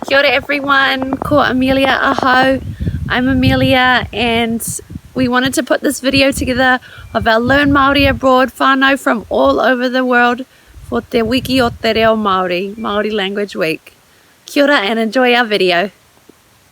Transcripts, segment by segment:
Kia ora everyone, ko Amelia ahau. I'm Amelia and we wanted to put this video together of our Learn Māori Abroad whānau from all over the world for Te Wiki o Te Reo Māori, Māori Language Week. Kia ora and enjoy our video.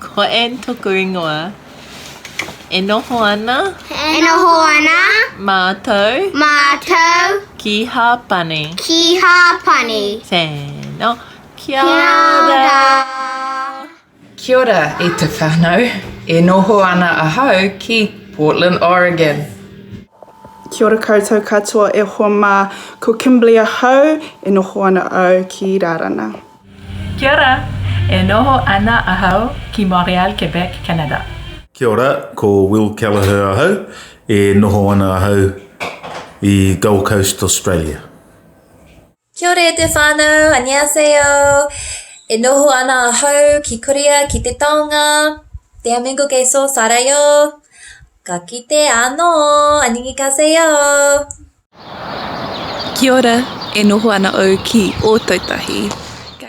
Ko Anne toku ingoa. E noho ana. E noho ana. Mātou. Mātou. Ki Hāpani. Ki Hāpani. Tēnā. Kia ora. Kia ora e te whanau. E noho ana ahau ki Portland, Oregon. Kia ora koutou katoa e hoa mā. Ko Kimberley ahau. E noho ana au ki Rarana. Kia ora! E noho ana ahau ki Montreal, Quebec, Canada. Kia ora, ko Will Kelleher ahau, e noho ana ahau i Gold Coast, Australia. Kia ora e te whanau, Annyeaseo! E noho ana ahau ki Korea, ki te taonga, Te Amengo Geso, Sarayo. Ka kite ano, Annyeonghaseyo! Kia ora, e noho ana au ki Ōtautahi. Ka.